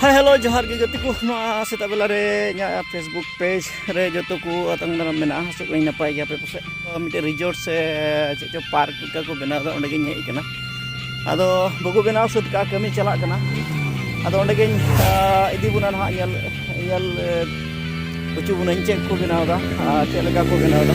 ᱦᱮᱸ ᱦᱮᱞᱳ ᱡᱚᱦᱟᱨ ᱜᱮ ᱜᱟᱛᱮ ᱠᱚ ᱱᱚᱣᱟ ᱥᱮᱛᱟᱜ ᱵᱮᱞᱟ ᱨᱮ ᱤᱧᱟᱹᱜ ᱯᱷᱮᱥᱵᱩᱠ ᱯᱮᱡᱽ ᱨᱮ ᱡᱚᱛᱚ ᱠᱚ ᱟᱛᱟᱝ ᱫᱟᱨᱟᱢ ᱢᱮᱱᱟᱜᱼᱟ ᱦᱟᱥᱚᱜ ᱠᱚᱧ ᱱᱟᱯᱟᱭ ᱜᱮᱭᱟ ᱟᱯᱮ ᱯᱟᱥᱮᱡ ᱢᱤᱫᱴᱮᱱ ᱨᱤᱡᱚᱨᱴ ᱥᱮ ᱪᱮᱫ ᱪᱚ ᱯᱟᱨᱠ ᱞᱮᱠᱟ ᱠᱚ ᱵᱮᱱᱟᱣ ᱮᱫᱟ ᱚᱸᱰᱮᱜᱤᱧ ᱦᱮᱡ ᱟᱠᱟᱱᱟ ᱟᱫᱚ ᱵᱟᱠᱚ ᱵᱮᱱᱟᱣ ᱥᱟᱹᱛ ᱠᱟᱜᱼᱟ ᱠᱟᱹᱢᱤ ᱪᱟᱞᱟᱜ ᱠᱟᱱᱟ ᱟᱫᱚ ᱚᱸᱰᱮᱜᱤᱧ ᱤᱫᱤ ᱵᱚᱱᱟ ᱱᱟᱦᱟᱜ ᱧᱮᱞ ᱧᱮᱞ ᱦᱚᱪᱚ ᱵᱚᱱᱟᱹᱧ ᱪᱮᱫ ᱠᱚ ᱵᱮᱱᱟᱣ ᱮᱫᱟ ᱪᱮᱫ ᱞᱮᱠᱟ ᱠᱚ ᱵᱮᱱᱟᱣ ᱮᱫᱟ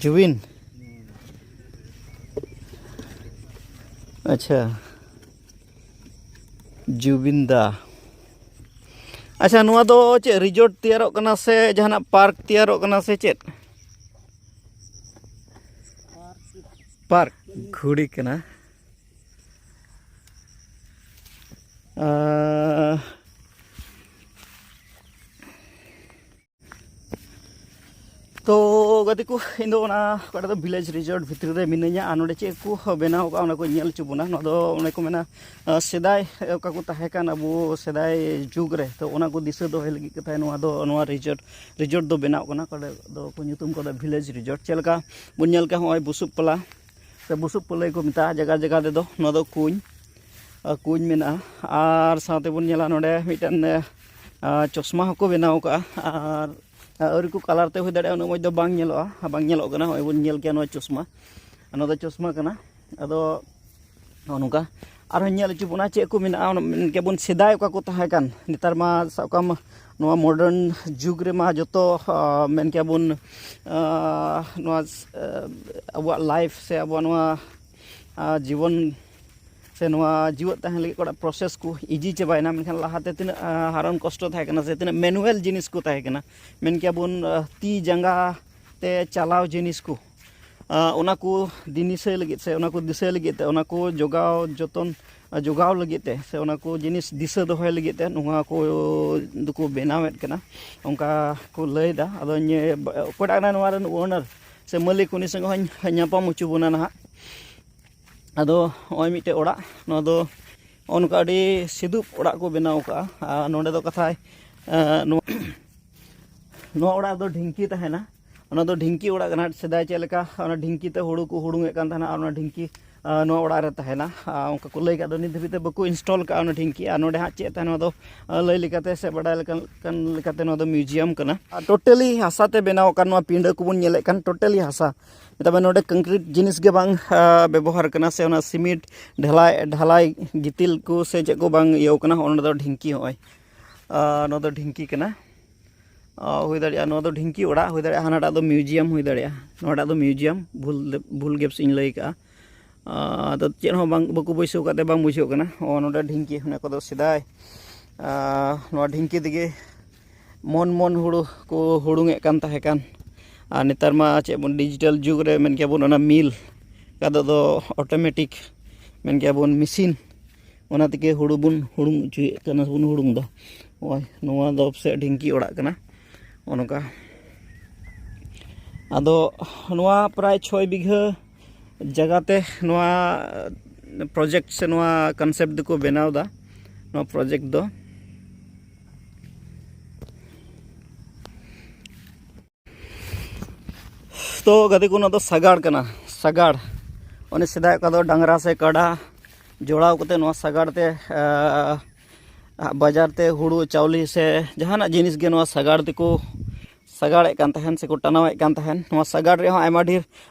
ᱡᱩᱵᱤᱱ ᱟᱪᱪᱷᱟ ᱡᱩᱵᱤᱱ ᱫᱟ ᱟᱪᱪᱷᱟ ᱱᱚᱣᱟ ᱫᱚ ᱪᱮᱫ ᱨᱤᱡᱚᱨᱴ ᱛᱮᱭᱟᱨᱚᱜ ᱠᱟᱱᱟ ᱥᱮ ᱡᱟᱦᱟᱱᱟᱜ ᱯᱟᱨᱠ ᱛᱮᱭᱟᱨᱚᱜ ᱠᱟᱱᱟ ᱥᱮ ᱪᱮᱫ ᱯᱟᱨᱠ ᱜᱷᱩᱲᱤ ᱠᱟᱱᱟ Uh, ᱛᱚ ᱜᱟᱛᱮ ᱠᱚ ᱤᱧ ᱫᱚ ᱚᱱᱟ ᱚᱠᱟᱴᱟᱜ ᱫᱚ ᱵᱷᱤᱞᱮᱡᱽ ᱨᱤᱡᱚᱨᱴ ᱵᱷᱤᱛᱨᱤ ᱨᱮ ᱢᱤᱱᱟᱹᱧᱟ ᱟᱨ ᱱᱚᱰᱮ ᱪᱮᱫ ᱠᱚ ᱵᱮᱱᱟᱣ ᱠᱟᱜᱼᱟ ᱚᱱᱟ ᱠᱚ ᱧᱮᱞ ᱦᱚᱪᱚ ᱵᱚᱱᱟ ᱱᱚᱣᱟ ᱫᱚ ᱚᱱᱮ ᱠᱚ ᱢᱮᱱᱟ ᱥᱮᱫᱟᱭ ᱚᱠᱟ ᱠᱚ ᱛᱟᱦᱮᱸ ᱠᱟᱱ ᱟᱵᱚ ᱥᱮᱫᱟᱭ ᱡᱩᱜᱽ ᱨᱮ ᱛᱚ ᱚᱱᱟ ᱠᱚ ᱫᱤᱥᱟᱹ ᱫᱚᱦᱚᱭ ᱞᱟᱹᱜᱤᱫ ᱠᱟᱛᱷᱟ ᱱᱚᱣᱟ ᱫᱚ ᱱᱚᱣᱟ ᱨᱤᱡᱚᱨᱴ ᱨᱤᱡᱚᱨᱴ ᱫᱚ ᱵᱮᱱᱟᱣ ᱠᱟᱱᱟ ᱚᱠᱟᱴᱟᱜ ᱫᱚ ᱠᱚ ᱧᱩᱛᱩᱢ ᱠᱟᱫᱟ ᱵᱷᱤᱞᱮᱡᱽ ᱨᱤᱡᱚᱨᱴ ᱪᱮᱫ ᱞᱮᱠᱟ ᱵᱚᱱ ᱧᱮᱞ ᱠᱟᱜᱼᱟ ᱱᱚᱜᱼᱚᱭ ᱵᱩᱥᱩᱵ ᱯᱟᱞᱟ ᱥᱮ ᱵᱩᱥᱩᱵ ᱯᱟᱹᱞᱟᱹᱭ ᱠᱚ ᱢᱮᱛᱟᱜᱼᱟ ᱡᱟᱭᱜᱟ ᱡᱟᱭᱜᱟ ᱛᱮᱫᱚ ᱱᱚᱣᱟ ᱫᱚ ᱠᱩᱧ ᱠᱩᱧ ᱢᱮᱱᱟᱜᱼᱟ ᱟᱨ ᱥᱟᱶᱛᱮ ᱵᱚᱱ ᱧᱮᱞᱟ ᱱᱚᱰᱮ ᱢᱤᱫᱴᱮᱱ ᱪᱚᱥᱢᱟ ᱦᱚᱸᱠᱚ ᱵᱮᱱᱟᱣ ᱠᱟᱜᱼᱟ ᱟᱨ ᱟᱹᱣᱨᱤ ᱠᱚ ᱠᱟᱞᱟᱨ ᱛᱮ ᱦᱩᱭ ᱫᱟᱲᱮᱭᱟᱜᱼᱟ ᱩᱱᱟᱹᱜ ᱢᱚᱡᱽ ᱫᱚ ᱵᱟᱝ ᱧᱮᱞᱚᱜᱼᱟ ᱵᱟᱝ ᱧᱮᱞᱚᱜ ᱠᱟᱱᱟ ᱱᱚᱜᱼᱚᱭ ᱵᱚᱱ ᱧᱮᱞ ᱠᱮᱭᱟ ᱱᱚᱣᱟ ᱪᱚᱥᱢᱟ ᱱᱚᱣᱟ ᱫᱚ ᱪᱚᱥᱢᱟ ᱠᱟᱱᱟ ᱟᱫᱚ ᱱᱚᱜᱼᱚ ᱱᱚᱝᱠᱟ ᱟᱨᱦᱚᱸ ᱧᱮᱞ ᱦᱚᱪᱚ ᱵᱚᱱᱟ ᱪᱮᱫ ᱠᱚ ᱢᱮᱱᱟᱜᱼᱟ ᱢᱮᱱ ᱠᱮᱭᱟᱵᱚᱱ ᱥᱮᱫᱟᱭ ᱚᱠᱟ ᱠᱚ ᱛᱟᱦᱮᱸ ᱠᱟᱱ ᱱᱮᱛᱟᱨ ᱢᱟ ᱥᱟᱵ ᱠᱟᱜ ᱢᱮ ᱱᱚᱣᱟ ᱢᱚᱰᱟᱨᱱ ᱡᱩᱜᱽ ᱨᱮᱢᱟ ᱡᱚᱛᱚ ᱢᱮᱱ ᱠᱮᱭᱟ ᱵᱚᱱ ᱱᱚᱣᱟ ᱟᱵᱚᱣᱟᱜ ᱞᱟᱭᱤᱯᱷ ᱥᱮ ᱟᱵᱚᱣᱟᱜ ᱱᱚᱣᱟ ᱡᱤᱵᱚᱱ ᱥᱮ ᱱᱚᱣᱟ ᱡᱤᱣᱮᱫ ᱛᱟᱦᱮᱱ ᱞᱟᱹᱜᱤᱫ ᱚᱠᱟᱴᱟᱜ ᱯᱨᱚᱥᱮᱥ ᱠᱚ ᱤᱡᱤ ᱪᱟᱵᱟᱭᱮᱱᱟ ᱢᱮᱱᱠᱷᱟᱱ ᱞᱟᱦᱟᱛᱮ ᱛᱤᱱᱟᱹᱜ ᱦᱟᱨᱚᱱ ᱠᱚᱥᱴᱚ ᱛᱟᱦᱮᱸ ᱠᱟᱱᱟ ᱥᱮ ᱛᱤᱱᱟᱹᱜ ᱢᱮᱱᱩᱣᱮᱞ ᱡᱤᱱᱤᱥ ᱠᱚ ᱛᱟᱦᱮᱸ ᱠᱟᱱᱟ ᱢᱮᱱ ᱠᱮᱭᱟ ᱵᱚᱱ ᱛᱤ ᱡᱟᱸᱜᱟ ᱛᱮ ᱪᱟᱞᱟᱣ ᱡᱤᱱᱤᱥ ᱠᱚ ᱚᱱᱟ ᱠᱚ ᱫᱤᱱᱤᱥᱟᱹ ᱞᱟᱹᱜᱤᱫ ᱥᱮ ᱚᱱᱟ ᱠᱚ ᱫᱤᱥᱟᱹ ᱞᱟᱹᱜᱤᱫ ᱛᱮ ᱚᱱᱟ ᱠᱚ ᱡᱚᱜᱟᱣ ᱡᱚᱛᱚᱱ ᱡᱚᱜᱟᱣ ᱞᱟᱹᱜᱤᱫ ᱛᱮ ᱥᱮ ᱚᱱᱟ ᱠᱚ ᱡᱤᱱᱤᱥ ᱫᱤᱥᱟᱹ ᱫᱚᱦᱚᱭ ᱞᱟᱹᱜᱤᱫ ᱛᱮ ᱱᱚᱣᱟ ᱠᱚ ᱫᱚᱠᱚ ᱵᱮᱱᱟᱣᱮᱫ ᱠᱟᱱᱟ ᱚᱱᱠᱟ ᱠᱚ ᱞᱟᱹᱭᱫᱟ ᱟᱫᱚ ᱱᱤᱭᱟᱹ ᱚᱠᱚᱭᱴᱟᱜ ᱠᱟᱱᱟᱭ ᱱᱚᱣᱟ ᱨᱮᱱ ᱳᱱᱟᱨ ᱥᱮ ᱢᱟᱹᱞᱤᱠ ᱩᱱᱤ ᱥᱚᱸᱜᱮ ᱦᱚᱧ ᱧᱟᱯᱟᱢ ᱦᱚᱪᱚ ᱵᱚᱱᱟ ᱱᱟᱦᱟᱜ ᱟᱫᱚ ᱱᱚᱜᱼᱚᱭ ᱢᱤᱫᱴᱮᱡ ᱚᱲᱟᱜ ᱱᱚᱣᱟ ᱫᱚ ᱚᱱᱠᱟ ᱟᱹᱰᱤ ᱥᱤᱫᱩᱯ ᱚᱲᱟᱜ ᱠᱚ ᱵᱮᱱᱟᱣ ᱠᱟᱜᱼᱟ ᱟᱨ ᱱᱚᱰᱮ ᱫᱚ ᱠᱟᱛᱷᱟᱭ ᱱᱚᱣᱟ ᱚᱲᱟᱜ ᱫᱚ ᱰᱷᱤᱝᱠᱤ ᱛᱟᱦᱮᱱᱟ ᱚᱱᱟ ᱫᱚ ᱰᱷᱤᱝᱠᱤ ᱚᱲᱟᱜ ᱠᱟᱱᱟ ᱥᱮᱫᱟᱭ ᱪᱮᱫ ᱞᱮᱠᱟ ᱚᱱᱟ ᱰᱷᱤᱝᱠᱤ ᱛᱮ ᱦᱩᱲᱩ ᱠᱚ ᱦᱩᱲᱩᱝᱮᱫ ᱠᱟᱱ ᱛᱟᱦᱮᱱᱟ ᱟᱨ ᱚᱱᱟ ᱰᱷᱤᱝᱠᱤ ᱱᱚᱣᱟ ᱚᱲᱟᱜ ᱨᱮ ᱛᱟᱦᱮᱱᱟ ᱚᱱᱠᱟ ᱠᱚ ᱞᱟᱹᱭ ᱠᱟᱜ ᱫᱚ ᱱᱤᱛ ᱫᱷᱟᱹᱵᱤᱡ ᱛᱮ ᱵᱟᱠᱚ ᱤᱱᱥᱴᱚᱞ ᱠᱟᱜᱼᱟ ᱚᱱᱟ ᱰᱷᱤᱝᱠᱤ ᱟᱨ ᱱᱚᱰᱮ ᱦᱟᱸᱜ ᱪᱮᱫ ᱛᱟᱦᱮᱱᱟ ᱱᱚᱣᱟ ᱫᱚ ᱞᱟᱹᱭ ᱞᱮᱠᱟᱛᱮ ᱥᱮ ᱵᱟᱰᱟᱭ ᱞᱮᱠᱟᱱ ᱞᱮᱠᱟᱛᱮ ᱱᱚᱣᱟ ᱫᱚ ᱢᱤᱭᱩᱡᱤᱭᱟᱢ ᱠᱟᱱᱟ ᱟᱨ ᱴᱳᱴᱟᱞᱤ ᱦᱟᱥᱟ ᱛᱮ ᱵᱮᱱᱟᱣ ᱟᱠᱟᱱ ᱱᱚᱣᱟ ᱯᱤᱸᱰᱟᱹ ᱠᱚᱵᱚᱱ ᱧᱮᱞᱮᱫ ᱠᱟᱱ ᱴᱳᱴᱟᱞᱤ ᱦᱟᱥᱟ ᱢᱮᱛᱟᱜ ᱢᱮ ᱱᱚᱰᱮ ᱠᱚᱝᱠᱨᱤᱴ ᱡᱤᱱᱤᱥ ᱜᱮ ᱵᱟᱝ ᱵᱮᱵᱚᱦᱟᱨ ᱠᱟᱱᱟ ᱥᱮ ᱚᱱᱟ ᱥᱤᱢᱮᱱᱴ ᱰᱷᱟᱞᱟᱭ ᱰᱷᱟᱞᱟᱭ ᱜᱤᱛᱤᱞ ᱠᱚ ᱥᱮ ᱪᱮᱫ ᱠᱚ ᱵᱟᱝ ᱤᱭᱟᱹ ᱠᱟᱱᱟ ᱚᱱᱟ ᱫᱚ ᱰᱷᱤᱝᱠᱤ ᱱᱚᱜᱼᱚᱭ ᱱᱚᱣᱟ ᱫᱚ ᱰᱷᱤᱝᱠᱤ ᱠᱟᱱᱟ ᱦᱩᱭ ᱫᱟᱲᱮᱭᱟᱜᱼᱟ ᱱᱚᱣᱟ ᱫᱚ ᱰᱷᱤᱝᱠᱤ ᱚᱲᱟᱜ ᱦᱩᱭ ᱫᱟᱲᱮᱭᱟᱜᱼᱟ ᱦᱟᱱᱟᱴᱟᱜ ᱫᱚ ᱢᱤᱭᱩᱡᱤᱭᱟᱢ ᱦᱩᱭ ᱫᱟᱲᱮᱭᱟᱜᱼᱟ ᱱᱚᱣᱟᱴᱟᱜ ᱫᱚ ᱢᱤᱭᱩᱡᱤᱭᱟᱢ ᱵᱷᱩᱞ ᱵᱷᱩᱞ ᱜᱮᱯᱥ ᱤᱧ ᱞᱟᱹᱭ ᱠᱟᱜᱼᱟ ᱟᱫᱚ ᱪᱮᱫ ᱦᱚᱸ ᱵᱟᱝ ᱵᱟᱠᱚ ᱵᱟᱹᱭᱥᱟᱹᱣ ᱠᱟᱜ ᱛᱮ ᱵᱟᱝ ᱵᱩᱡᱷᱟᱹᱜ ᱠᱟᱱᱟ ᱚ ᱱᱚᱰᱮ ᱰᱷᱤᱝᱠᱤ ᱚᱱᱟ ᱠᱚᱫᱚ ᱥᱮᱫᱟᱭ ᱱᱚᱣᱟ ᱰᱷᱤᱝᱠᱤ ᱛᱮᱜᱮ ᱢᱚᱱ ᱢᱚᱱ ᱦᱩᱲᱩ ᱠᱚ ᱦᱩᱲᱩᱝᱮᱫ ᱠᱟᱱ ᱛᱟᱦᱮᱸ ᱠᱟᱱ ᱟᱨ ᱱᱮᱛᱟᱨ ᱢᱟ ᱪᱮᱫ ᱵᱚᱱ ᱰᱤᱡᱤᱴᱟᱞ ᱡᱩᱜᱽ ᱨᱮ ᱢᱮᱱ ᱠᱮᱭᱟ ᱵᱚᱱ ᱚᱱᱟ ᱢᱤᱞ ᱠᱟᱫᱚ ᱫᱚ ᱚᱴᱳᱢᱮᱴᱤᱠ ᱢᱮᱱ ᱠᱮᱭᱟ ᱵᱚᱱ ᱢᱮᱥᱤᱱ ᱚᱱᱟ ᱛᱮᱜᱮ ᱦᱩᱲᱩ ᱵᱚᱱ ᱦᱩᱲᱩᱝ ᱚᱪᱚᱭᱮᱫ ᱠᱟᱱᱟ ᱵᱚᱱ ᱦᱩᱲᱩᱝ ᱮᱫᱟ ᱱᱚᱜᱼᱚᱭ ᱱᱚᱣᱟ ᱫᱚ ᱥᱮ ᱰᱷᱤᱝᱠᱤ ᱚᱲᱟᱜ ᱠᱟᱱᱟ ᱚᱱᱠᱟ ᱟᱫᱚ ᱱᱚᱣᱟ ᱯᱨᱟᱭ ᱪᱷᱚᱭ ᱵᱤᱜᱷᱟᱹ ᱡᱟᱭᱜᱟᱛᱮ ᱱᱚᱣᱟ ᱯᱨᱚᱡᱮᱠᱴ ᱥᱮ ᱱᱚᱣᱟ ᱠᱚᱱᱥᱮᱯᱴ ᱫᱚᱠᱚ ᱵᱮᱱᱟᱣ ᱮᱫᱟ ᱱᱚᱣᱟ ᱯᱨᱚᱡᱮᱠᱴ ᱫᱚ ᱛᱚ ᱜᱟᱛᱮ ᱠᱚ ᱱᱚᱣᱟ ᱫᱚ ᱥᱟᱜᱟᱲ ᱠᱟᱱᱟ ᱥᱟᱜᱟᱲ ᱚᱱᱮ ᱥᱮᱫᱟᱭ ᱚᱠᱟ ᱫᱚ ᱰᱟᱝᱨᱟ ᱥᱮ ᱠᱟᱰᱟ ᱡᱚᱲᱟᱣ ᱠᱟᱛᱮ ᱱᱚᱣᱟ ᱥᱟᱜᱟᱲ ᱛᱮ ᱵᱟᱡᱟᱨ ᱛᱮ ᱦᱩᱲᱩ ᱪᱟᱣᱞᱮ ᱥᱮ ᱡᱟᱦᱟᱱᱟᱜ ᱡᱤᱱᱤᱥ ᱜᱮ ᱱᱚᱣᱟ ᱥᱟᱜᱟᱲ ᱛᱮᱠᱚ ᱥᱟᱜᱟᱲᱮᱫ ᱠᱟᱱ ᱛᱟᱦᱮᱱ ᱥᱮᱠᱚ ᱴᱟᱱᱟᱣᱮᱫ ᱠᱟᱱ ᱛᱟᱦᱮᱱ ᱱᱚᱣᱟ ᱥᱟᱜᱟᱲ ᱨᱮᱦᱚᱸ ᱟᱭᱢᱟ ᱰᱷᱮᱨ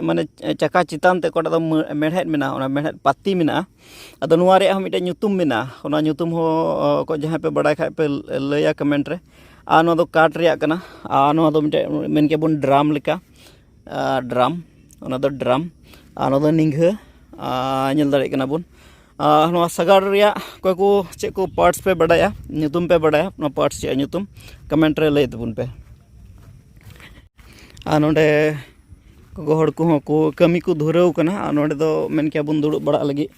ᱢᱟᱱᱮ ᱪᱟᱠᱟ ᱪᱮᱛᱟᱱ ᱛᱮ ᱚᱠᱟᱴᱟᱜ ᱫᱚ ᱢᱮᱬᱦᱮᱫ ᱢᱮᱱᱟᱜᱼᱟ ᱚᱱᱟ ᱢᱮᱬᱦᱮᱫ ᱯᱟᱹᱛᱤ ᱢᱮᱱᱟᱜᱼᱟ ᱟᱫᱚ ᱱᱚᱣᱟ ᱨᱮᱭᱟᱜ ᱦᱚᱸ ᱢᱤᱫᱴᱮᱡ ᱧᱩᱛᱩᱢ ᱢᱮᱱᱟᱜᱼᱟ ᱚᱱᱟ ᱧᱩᱛᱩᱢ ᱦᱚᱸ ᱚᱠᱚᱭ ᱡᱟᱦᱟᱸᱭ ᱯᱮ ᱵᱟᱲᱟᱭ ᱠᱷᱟᱡ ᱯᱮ ᱞᱟᱹᱭᱟ ᱠᱚᱢᱮᱱᱴ ᱨᱮ ᱟᱨ ᱱᱚᱣᱟ ᱫᱚ ᱠᱟᱴ ᱨᱮᱭᱟᱜ ᱠᱟᱱᱟ ᱟᱨ ᱱᱚᱣᱟ ᱫᱚ ᱢᱤᱫᱴᱮᱡ ᱢᱮᱱ ᱠᱮᱭᱟ ᱵᱚᱱ ᱰᱨᱟᱢ ᱞᱮᱠᱟ ᱰᱨᱟᱢ ᱚᱱᱟ ᱫᱚ ᱰᱨᱟᱢ ᱟᱨ ᱱᱚᱣᱟ ᱫᱚ ᱱᱤᱝᱜᱷᱟᱹ ᱧᱮᱞ ᱫᱟᱲᱮᱭᱟᱜ ᱠᱟᱱᱟ ᱵᱚᱱ ᱱᱚᱣᱟ ᱥᱟᱜᱟᱲ ᱨᱮᱭᱟᱜ ᱚᱠᱚᱭ ᱠᱚ ᱪᱮᱫ ᱠᱚ ᱯᱟᱨᱴᱥ ᱯᱮ ᱵᱟᱰᱟᱭᱟ ᱧᱩᱛᱩᱢ ᱯᱮ ᱵᱟᱰᱟᱭᱟ ᱱᱚᱣᱟ ᱯᱟᱨᱴᱥ ᱪᱮᱫ ᱧᱩᱛᱩᱢ ᱠᱚᱢᱮᱱᱴ ᱨᱮ ᱞᱟᱹᱭ ᱛᱟᱵᱚᱱ ᱯᱮ ᱟᱨ ᱱᱚᱰᱮ ᱜᱚᱜᱚ ᱦᱚᱲ ᱠᱚᱦᱚᱸ ᱠᱚ ᱠᱟᱹᱢᱤ ᱠᱚ ᱫᱷᱩᱨᱟᱹᱣ ᱠᱟᱱᱟ ᱟᱨ ᱱᱚᱰᱮ ᱫᱚ ᱢᱮᱱ ᱠᱮᱭᱟ ᱵᱚᱱ ᱫᱩᱲᱩᱵ ᱵᱟᱲᱟᱜ ᱞᱟᱹᱜᱤᱫ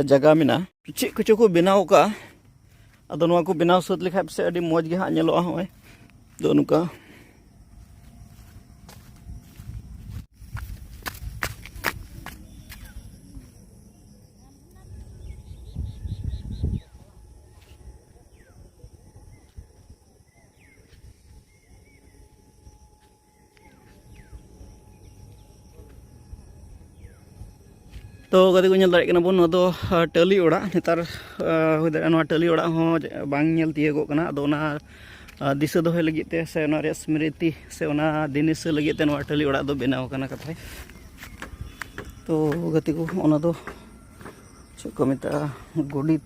ᱡᱟᱭᱜᱟ ᱢᱮᱱᱟᱜᱼᱟ ᱪᱮᱫ ᱠᱚᱪᱚ ᱠᱚ ᱵᱮᱱᱟᱣ ᱠᱟᱜᱼᱟ ᱟᱫᱚ ᱱᱚᱣᱟ ᱠᱚ ᱵᱮᱱᱟᱣ ᱥᱟᱹᱛ ᱞᱮᱠᱷᱟᱡ ᱯᱟᱥᱮᱡ ᱟᱹᱰᱤ ᱢᱚᱡᱽ ᱜᱮ ᱦᱟᱸᱜ ᱧᱮᱞᱚᱜᱼᱟ ᱦᱚᱸᱜᱼᱚᱭ ᱫᱚ ᱱᱚᱝᱠᱟ ᱛᱚ ᱜᱟᱛᱮ ᱠᱚ ᱧᱮᱞ ᱫᱟᱲᱮᱭᱟᱜ ᱠᱟᱱᱟ ᱵᱚᱱ ᱱᱚᱣᱟ ᱫᱚ ᱴᱟᱹᱞᱤ ᱚᱲᱟᱜ ᱱᱮᱛᱟᱨ ᱦᱩᱭ ᱫᱟᱲᱮᱭᱟᱜᱼᱟ ᱱᱚᱣᱟ ᱴᱟᱹᱞᱤ ᱚᱲᱟᱜ ᱦᱚᱸ ᱵᱟᱝ ᱧᱮᱞ ᱛᱤᱭᱳᱜᱚᱜ ᱠᱟᱱᱟ ᱟᱫᱚ ᱚᱱᱟ ᱫᱤᱥᱟᱹ ᱫᱚᱦᱚᱭ ᱞᱟᱹᱜᱤᱫ ᱛᱮ ᱥᱮ ᱚᱱᱟ ᱨᱮᱭᱟᱜ ᱥᱢᱨᱤᱛᱤ ᱥᱮ ᱚᱱᱟ ᱫᱤᱱᱤᱥᱟᱹ ᱞᱟᱹᱜᱤᱫ ᱛᱮ ᱱᱚᱣᱟ ᱴᱟᱹᱞᱤ ᱚᱲᱟᱜ ᱫᱚ ᱵᱮᱱᱟᱣ ᱠᱟᱱᱟ ᱠᱟᱛᱷᱟᱭ ᱛᱚ ᱜᱟᱛᱮ ᱠᱚ ᱚᱱᱟ ᱫᱚ ᱪᱮᱫ ᱠᱚ ᱢᱮᱛᱟᱜᱼᱟ ᱜᱚᱰᱤᱛ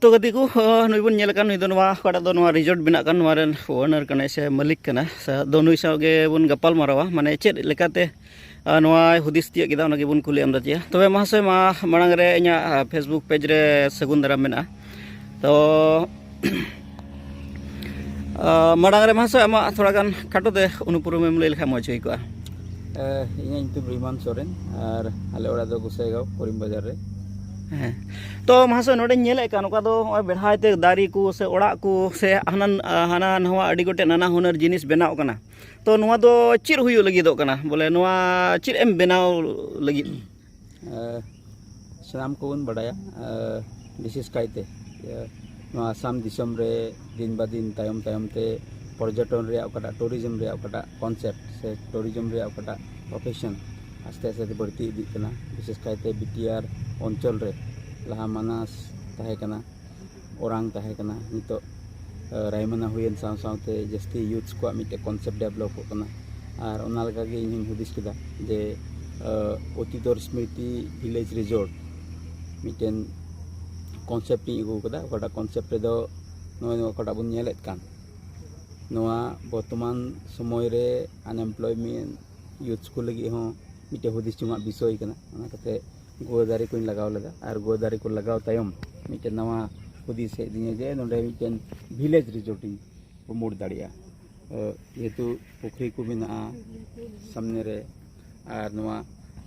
ᱛᱚ ᱜᱟᱛᱮ ᱠᱚ ᱱᱩᱭ ᱵᱚᱱ ᱧᱮᱞ ᱠᱟᱱ ᱱᱩᱭ ᱫᱚ ᱱᱚᱣᱟ ᱚᱠᱟᱴᱟᱜ ᱫᱚ ᱱᱚᱣᱟ ᱨᱤᱡᱚᱨᱴ ᱵᱮᱱᱟᱜ ᱠᱟᱱ ᱱᱚᱣᱟ ᱨᱮᱱ ᱳᱱᱟᱨ ᱠᱟᱱᱟᱭ ᱥᱮ ᱢᱟᱹᱞᱤᱠ ᱠᱟᱱᱟᱭ ᱟᱫᱚ ᱱᱩᱭ ᱥᱟᱶ ᱜᱮᱵᱚᱱ ᱜᱟᱯᱟᱞ ᱢᱟᱨᱟᱣᱟ ᱢᱟᱱᱮ ᱪᱮᱫ ᱞᱮᱠᱟᱛᱮ ᱱᱚᱣᱟᱭ ᱦᱩᱫᱤᱥ ᱛᱤᱭᱟᱹᱜ ᱠᱮᱫᱟ ᱚᱱᱟ ᱜᱮᱵᱚᱱ ᱠᱩᱞᱤ ᱟᱢᱫᱟ ᱪᱮᱭᱟ ᱛᱚᱵᱮ ᱢᱟᱦᱟᱥᱚᱭ ᱢᱟ ᱢᱟᱲᱟᱝ ᱨᱮ ᱤᱧᱟᱹᱜ ᱯᱷᱮᱥᱵᱩᱠ ᱯᱮᱡᱽ ᱨᱮ ᱥᱟᱹᱜᱩᱱ ᱫᱟᱨᱟᱢ ᱢᱮᱱᱟᱜᱼᱟ ᱛᱚ ᱢᱟᱲᱟᱝ ᱨᱮ ᱢᱟᱦᱟᱥᱚᱭ ᱟᱢᱟᱜ ᱛᱷᱚᱲᱟ ᱜᱟᱱ ᱠᱷᱟᱴᱚ ᱛᱮ ᱩᱱᱩᱯᱩᱨᱩᱢ ᱮᱢ ᱞᱟᱹᱭ ᱞᱮᱠᱷᱟᱱ ᱢᱚᱡᱽ ᱦᱩᱭ ᱠᱚᱜᱼᱟ ᱤᱧᱟᱹᱜ ᱧᱩᱛᱩᱢ ᱨᱤᱢᱟᱱ ᱥᱚᱨᱮᱱ ᱟᱨ ᱟᱞᱮ ᱚᱲᱟᱜ ᱫᱚ ᱜᱩᱥᱟᱭᱜᱟᱸᱣ ᱠᱚᱨᱤᱢ ᱵᱟᱡᱟᱨ ᱨᱮ ᱦᱮᱸ ᱛᱚ ᱢᱟᱦᱟᱥᱚᱭ ᱱᱚᱰᱮᱧ ᱧᱮᱞᱮᱫ ᱠᱟᱱ ᱚᱠᱟ ᱫᱚ ᱱᱚᱜᱼᱚᱭ ᱵᱮᱲᱦᱟᱭ ᱛᱮ ᱫᱟᱨᱮ ᱠᱚ ᱥᱮ ᱚᱲᱟᱜ ᱠᱚ ᱥᱮ ᱦᱟᱱᱟ ᱦᱟᱱᱟ ᱱᱟᱣᱟ ᱟᱹᱰᱤ ᱜᱚᱴᱮᱡ ᱱᱟᱱᱟ ᱦᱩᱱᱟᱹᱨ ᱡᱤᱱᱤᱥ ᱵᱮᱱᱟᱣ ᱠᱟᱱᱟ ᱛᱚ ᱱᱚᱣᱟ ᱫᱚ ᱪᱮᱫ ᱦᱩᱭᱩᱜ ᱞᱟᱹᱜᱤᱫᱚᱜ ᱠᱟᱱᱟ ᱵᱚᱞᱮ ᱱᱚᱣᱟ ᱪᱮᱫ ᱮᱢ ᱵᱮᱱᱟᱣ ᱞᱟᱹᱜᱤᱫ ᱥᱟᱱᱟᱢ ᱠᱚᱵᱚᱱ ᱵᱟᱰᱟᱭᱟ ᱵᱤᱥᱮᱥ ᱠᱟᱭᱛᱮ ᱱᱚᱣᱟ ᱟᱥᱟᱢ ᱫᱤᱥᱚᱢ ᱨᱮ ᱫᱤᱱ ᱵᱟ ᱫᱤᱱ ᱛᱟᱭᱚᱢ ᱛᱟᱭᱚᱢ ᱛᱮ ᱯᱚᱨᱡᱚᱴᱚᱱ ᱨᱮᱭᱟᱜ ᱚᱠᱟᱴᱟᱜ ᱴᱩᱨᱤᱡᱚᱢ ᱨᱮᱭᱟᱜ ᱚᱠᱟᱴᱟᱜ ᱠᱚᱱᱥᱮᱯᱴ ᱥᱮ ᱴᱩᱨᱤᱡᱚᱢ ᱨᱮᱭᱟᱜ ᱚᱠᱟᱴᱟᱜ ᱯᱨᱚᱯᱷᱮᱥᱚᱱ ᱟᱥᱛᱮ ᱟᱥᱛᱮ ᱛᱮ ᱵᱟᱹᱲᱛᱤ ᱤᱫᱤᱜ ᱠᱟᱱᱟ ᱵᱤᱥᱮᱥ ᱠᱟᱭᱛᱮ ᱵᱤᱴᱤ ᱟᱨ ᱚᱧᱪᱚᱞ ᱨᱮ ᱞᱟᱦᱟ ᱢᱟᱱᱟᱥ ᱛᱟᱦᱮᱸ ᱠᱟᱱᱟ ᱚᱨᱟᱝ ᱛᱟᱦᱮᱸ ᱠᱟᱱᱟ ᱱᱤᱛᱚᱜ ᱨᱟᱭᱢᱟᱱᱟ ᱦᱩᱭᱮᱱ ᱥᱟᱶ ᱥᱟᱶᱛᱮ ᱡᱟᱹᱥᱛᱤ ᱤᱭᱩᱛᱷᱥ ᱠᱚᱣᱟᱜ ᱢᱤᱫᱴᱮᱱ ᱠᱚᱱᱥᱮᱯᱴ ᱰᱮᱵᱷᱞᱚᱯᱚᱜ ᱠᱟᱱᱟ ᱟᱨ ᱚᱱᱟ ᱞᱮᱠᱟᱜᱮ ᱤᱧ ᱦᱚᱧ ᱦᱩᱫᱤᱥ ᱠᱮᱫᱟ ᱡᱮ ᱚᱛᱤᱫᱚᱨ ᱥᱢᱨᱤᱛᱤ ᱵᱷᱤᱞᱮᱡᱽ ᱨᱤᱡᱚᱨᱴ ᱢᱤᱫᱴᱮᱱ ᱠᱚᱱᱥᱮᱯᱴ ᱤᱧ ᱟᱹᱜᱩ ᱟᱠᱟᱫᱟ ᱚᱠᱟᱴᱟᱜ ᱠᱚᱱᱥᱮᱯᱴ ᱨᱮᱫᱚ ᱱᱚᱜᱼᱚᱭ ᱱᱚᱣᱟ ᱚᱠᱟᱴᱟᱜ ᱵᱚᱱ ᱧᱮᱞᱮᱫ ᱠᱟᱱ ᱱᱚᱣᱟ ᱵᱚᱨᱛᱚᱢᱟᱱ ᱥᱚᱢᱚᱭ ᱨᱮ ᱟᱱᱮᱢᱯᱞᱚᱭᱢᱮᱱᱴ ᱤᱭᱩᱛᱷᱥ ᱠᱚ ᱞᱟᱹᱜᱤᱫ ᱦᱚᱸ ᱢᱤᱫᱴᱮᱱ ᱦᱩᱫᱤᱥ ᱡᱚᱝᱟᱜ ᱵᱤᱥᱚᱭ ᱠᱟᱱᱟ ᱚᱱᱟ ᱠᱟᱛᱮᱫ ᱜᱩᱣᱟᱹ ᱫᱟᱨᱮ ᱠᱚᱧ ᱞᱟᱜᱟᱣ ᱞᱮᱫᱟ ᱟᱨ ᱜᱩᱣᱟᱹ ᱫᱟᱨᱮ ᱠᱚ ᱞᱟᱜᱟᱣ ᱛᱟᱭᱚᱢ ᱢᱤᱫᱴᱮᱱ ᱱᱟᱣᱟ ᱦᱩᱫᱤᱥ ᱦᱮᱡ ᱟᱹᱫᱤᱧᱟ ᱡᱮ ᱱᱚᱰᱮ ᱢᱤᱫᱴᱮᱱ ᱵᱷᱤᱞᱮᱡᱽ ᱨᱤᱡᱚᱨᱴ ᱤᱧ ᱯᱨᱚᱢᱳᱴ ᱫᱟᱲᱮᱭᱟᱜᱼᱟ ᱡᱮᱦᱮᱛᱩ ᱯᱩᱠᱷᱨᱤ ᱠᱚ ᱢᱮᱱᱟᱜᱼᱟ ᱥᱟᱢᱱᱮ ᱨᱮ ᱟᱨ ᱱᱚᱣᱟ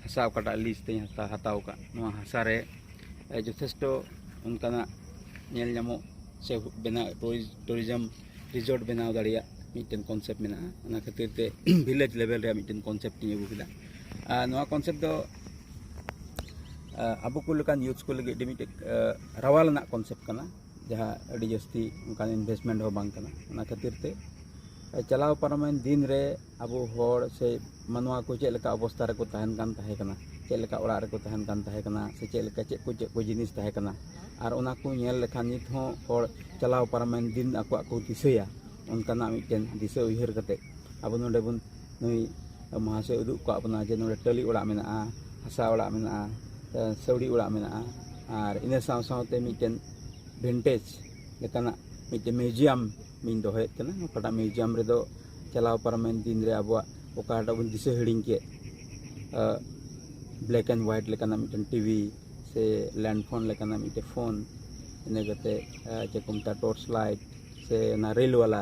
ᱦᱟᱥᱟ ᱚᱠᱟᱴᱟᱜ ᱞᱤᱡ ᱛᱮᱧ ᱦᱟᱛᱟᱣ ᱟᱠᱟᱫ ᱱᱚᱣᱟ ᱦᱟᱥᱟ ᱨᱮ ᱡᱚᱛᱷᱮᱥᱴᱚ ᱚᱱᱠᱟᱱᱟᱜ ᱧᱮᱞ ᱧᱟᱢᱚᱜ ᱥᱮ ᱵᱮᱱᱟᱣ ᱴᱩᱨᱤᱡᱚᱢ ᱨᱤᱡᱚᱨᱴ ᱵᱮᱱᱟᱣ ᱫᱟᱲᱮᱭᱟᱜ ᱢᱤᱫᱴᱮᱱ ᱠᱚᱱᱥᱮᱯᱴ ᱢᱮᱱᱟᱜᱼᱟ ᱚᱱᱟ ᱠᱷᱟᱹᱛᱤᱨ ᱛᱮ ᱵᱷᱤᱞᱮᱡᱽ ᱞᱮᱵᱮᱞ ᱨᱮᱭᱟᱜ ᱢᱤᱫᱴᱮᱱ ᱠᱚᱱᱥᱮᱯᱴ ᱤᱧ ᱟᱹᱜᱩ ᱠᱮᱫᱟ ᱱᱚᱣᱟ ᱠᱚᱱᱥᱮᱯᱴ ᱫᱚ ᱟᱵᱚ ᱠᱚ ᱞᱮᱠᱟᱱ ᱭᱩᱛᱷ ᱠᱚ ᱞᱟᱹᱜᱤᱫ ᱟᱹᱰᱤ ᱢᱤᱫᱴᱮᱡ ᱨᱟᱣᱟᱞ ᱨᱮᱱᱟᱜ ᱠᱚᱱᱥᱮᱯᱴ ᱠᱟᱱᱟ ᱡᱟᱦᱟᱸ ᱟᱹᱰᱤ ᱡᱟᱹᱥᱛᱤ ᱚᱱᱠᱟᱱ ᱤᱱᱵᱷᱮᱥᱴᱢᱮᱱᱴ ᱦᱚᱸ ᱵᱟᱝ ᱠᱟᱱᱟ ᱚᱱᱟ ᱠᱷᱟᱹᱛᱤᱨ ᱛᱮ ᱪᱟᱞᱟᱣ ᱯᱟᱨᱚᱢᱮᱱ ᱫᱤᱱ ᱨᱮ ᱟᱵᱚ ᱦᱚᱲ ᱥᱮ ᱢᱟᱱᱣᱟ ᱠᱚ ᱪᱮᱫ ᱞᱮᱠᱟ ᱚᱵᱚᱥᱛᱟ ᱨᱮᱠᱚ ᱛᱟᱦᱮᱱ ᱠᱟᱱ ᱛᱟᱦᱮᱸ ᱠᱟᱱᱟ ᱪᱮᱫ ᱞᱮᱠᱟ ᱚᱲᱟᱜ ᱨᱮᱠᱚ ᱛᱟᱦᱮᱱ ᱠᱟᱱ ᱛᱟᱦᱮᱸ ᱠᱟᱱᱟ ᱥᱮ ᱪᱮᱫ ᱞᱮᱠᱟ ᱪᱮᱫ ᱠᱚ ᱪᱮᱫ ᱠᱚ ᱡᱤᱱᱤᱥ ᱛᱟᱦᱮᱸ ᱠᱟᱱᱟ ᱟᱨ ᱚᱱᱟ ᱠᱚ ᱧᱮᱞ ᱞᱮᱠᱷᱟᱱ ᱱᱤᱛ ᱦᱚᱸ ᱦᱚᱲ ᱪᱟᱞᱟᱣ ᱯᱟᱨᱚᱢᱮᱱ ᱫᱤᱱ ᱟᱠᱚᱣᱟᱜ ᱠᱚ ᱫᱤᱥᱟᱹᱭᱟ ᱚᱱᱠᱟᱱᱟᱜ ᱢᱤᱫᱴᱮᱱ ᱫᱤᱥᱟᱹ ᱩᱭᱦᱟᱹᱨ ᱠᱟᱛᱮ ᱟᱵᱚ ᱱᱚᱰᱮ ᱵᱚᱱ ᱱᱩᱭ ᱢᱚᱦᱟᱥᱚᱭ ᱩᱫᱩᱜ ᱠᱟᱜ ᱵᱚᱱᱟ ᱡᱮ ᱱᱚᱰᱮ ᱴᱟᱹᱞᱤ ᱚᱲᱟᱜ ᱢᱮᱱᱟᱜᱼᱟ ᱦᱟᱥᱟ ᱚᱲᱟᱜ ᱢᱮᱱᱟᱜᱼᱟ ᱥᱟᱹᱣᱲᱤ ᱚᱲᱟᱜ ᱢᱮᱱᱟᱜᱼᱟ ᱟᱨ ᱤᱱᱟᱹ ᱥᱟᱶ ᱥᱟᱶᱛᱮ ᱢᱤᱫᱴᱮᱱ ᱵᱷᱤᱱᱴᱮᱡᱽ ᱞᱮᱠᱟᱱᱟᱜ ᱢᱤᱫᱴᱮᱱ ᱢᱤᱣᱡᱤᱭᱟᱢ ᱤᱧ ᱫᱚᱦᱚᱭᱮᱫ ᱠᱟᱱᱟ ᱚᱠᱟᱴᱟᱜ ᱢᱤᱣᱡᱤᱭᱟᱢ ᱨᱮᱫᱚ ᱪᱟᱞᱟᱣ ᱯᱟᱨᱚᱢᱮᱱ ᱫᱤᱱ ᱨᱮ ᱟᱵᱚᱣᱟᱜ ᱚᱠᱟᱴᱟᱜ ᱵᱚᱱ ᱫᱤᱥᱟᱹ ᱦᱤᱲᱤᱧ ᱠᱮᱫ ᱵᱞᱮᱠ ᱮᱱᱰ ᱦᱳᱣᱟᱭᱤᱴ ᱞᱮᱠᱟᱱᱟᱜ ᱢᱤᱫᱴᱮᱱ ᱴᱤᱵᱷᱤ ᱥᱮ ᱞᱮᱱᱰ ᱯᱷᱳᱱ ᱞᱮᱠᱟᱱᱟᱜ ᱢᱤᱫᱴᱮᱱ ᱯᱷᱳᱱ ᱤᱱᱟᱹ ᱠᱟᱛᱮᱫ ᱪᱮᱫ ᱠᱚ ᱢᱮᱛᱟᱜᱼᱟ ᱴᱚᱨᱪ ᱞᱟᱭᱤᱴ ᱥᱮ ᱚᱱᱟ ᱨᱮᱞ ᱵᱟᱞᱟ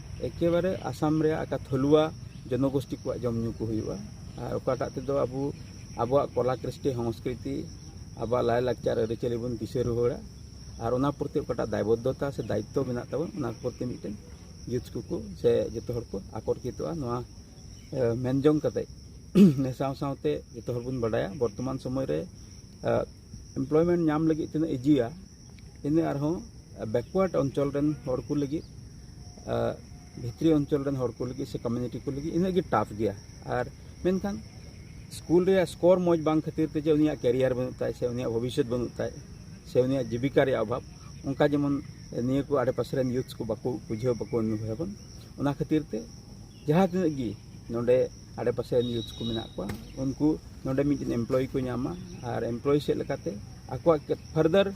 ᱮᱠᱮᱵᱟᱨᱮ ᱟᱥᱟᱢ ᱨᱮᱭᱟᱜ ᱟᱠᱟ ᱛᱷᱚᱞᱩᱣᱟ ᱡᱚᱱᱚᱜᱳᱥᱴᱤ ᱠᱚᱣᱟᱜ ᱡᱚᱢ ᱧᱩ ᱠᱚ ᱦᱩᱭᱩᱜᱼᱟ ᱟᱨ ᱚᱠᱟᱴᱟᱜ ᱛᱮᱫᱚ ᱟᱵᱚ ᱟᱵᱚᱣᱟᱜ ᱠᱚᱞᱟ ᱠᱨᱤᱥᱴᱤ ᱥᱚᱝᱥᱠᱨᱤᱛᱤ ᱟᱵᱚᱣᱟᱜ ᱞᱟᱭᱼᱞᱟᱠᱪᱟᱨ ᱟᱹᱨᱤᱪᱟᱹᱞᱤ ᱵᱚᱱ ᱫᱤᱥᱟᱹ ᱨᱩᱣᱟᱹᱲᱟ ᱟᱨ ᱚᱱᱟ ᱯᱨᱚᱛᱤ ᱚᱠᱟᱴᱟᱜ ᱫᱟᱭᱵᱚᱫᱽᱫᱷᱚᱛᱟ ᱥᱮ ᱫᱟᱭᱤᱛᱛᱚ ᱢᱮᱱᱟᱜ ᱛᱟᱵᱚᱱ ᱚᱱᱟ ᱯᱨᱚᱛᱤ ᱢᱤᱫᱴᱮᱱ ᱭᱩᱛᱷ ᱠᱚᱠᱚ ᱥᱮ ᱡᱚᱛᱚ ᱦᱚᱲ ᱠᱚ ᱟᱠᱚᱨᱠᱤᱛᱚᱜᱼᱟ ᱱᱚᱣᱟ ᱢᱮᱱ ᱡᱚᱝ ᱠᱟᱛᱮ ᱱᱮ ᱥᱟᱶ ᱥᱟᱶᱛᱮ ᱡᱚᱛᱚ ᱦᱚᱲ ᱵᱚᱱ ᱵᱟᱰᱟᱭᱟ ᱵᱚᱨᱛᱚᱢᱟᱱ ᱥᱚᱢᱚᱭ ᱨᱮ ᱮᱢᱯᱞᱚᱭᱢᱮᱱᱴ ᱧᱟᱢ ᱞᱟᱹᱜᱤᱫ ᱛᱤᱱᱟᱹᱜ ᱤᱡᱤᱭᱟ ᱤᱱᱟᱹ ᱟᱨᱦᱚᱸ ᱵᱮᱠᱣᱟᱨᱰ ᱚᱧᱪᱚᱞ ᱨᱮᱱ ᱦᱚᱲ ᱠᱚ ᱞᱟᱹᱜᱤᱫ ᱵᱷᱤᱛᱨᱤ ᱚᱧᱪᱚᱞ ᱨᱮᱱ ᱦᱚᱲ ᱠᱚ ᱞᱟᱹᱜᱤᱫ ᱥᱮ ᱠᱚᱢᱤᱭᱩᱱᱤᱴᱤ ᱠᱚ ᱞᱟᱹᱜᱤᱫ ᱤᱱᱟᱹᱜ ᱜᱮ ᱴᱟᱯ ᱜᱮᱭᱟ ᱟᱨ ᱢᱮᱱᱠᱷᱟᱱ ᱥᱠᱩᱞ ᱨᱮᱭᱟᱜ ᱥᱠᱳᱨ ᱢᱚᱡᱽ ᱵᱟᱝ ᱠᱷᱟᱹᱛᱤᱨ ᱛᱮ ᱡᱮ ᱩᱱᱤᱭᱟᱜ ᱠᱮᱨᱤᱭᱟᱨ ᱵᱟᱹᱱᱩᱜ ᱛᱟᱭ ᱥᱮ ᱩᱱᱤᱭᱟᱜ ᱵᱷᱚᱵᱤᱥᱥᱚᱛ ᱵᱟᱹᱱᱩᱜ ᱛᱟᱭ ᱥᱮ ᱩᱱᱤᱭᱟᱜ ᱡᱤᱵᱤᱠᱟ ᱨᱮᱭᱟᱜ ᱚᱵᱷᱟᱵᱽ ᱚᱱᱠᱟ ᱡᱮᱢᱚᱱ ᱱᱤᱭᱟᱹ ᱠᱚ ᱟᱰᱮᱯᱟᱥᱮ ᱨᱮᱱ ᱭᱩᱛᱷ ᱠᱚ ᱵᱟᱠᱚ ᱵᱩᱡᱷᱟᱹᱣ ᱵᱟᱠᱚ ᱚᱱᱩᱵᱷᱚᱵᱚᱱ ᱚᱱᱟ ᱠᱷᱟᱹᱛᱤᱨ ᱛᱮ ᱡᱟᱦᱟᱸ ᱛᱤᱱᱟᱹᱜ ᱜᱮ ᱱᱚᱰᱮ ᱟᱰᱮᱯᱟᱥᱮ ᱱᱤᱭᱩᱡᱽ ᱠᱚ ᱢᱮᱱᱟᱜ ᱠᱚᱣᱟ ᱩᱱᱠᱩ ᱱᱚᱰᱮ ᱢᱤᱫᱴᱮᱱ ᱮᱢᱯᱞᱚᱭ ᱠᱚ ᱧᱟᱢᱟ ᱟᱨ ᱮᱢᱯᱞᱚᱭ ᱥᱮᱫ ᱞᱮᱠᱟᱛᱮ ᱟᱠᱚᱣᱟᱜ ᱯᱷᱟᱨᱫᱟᱨ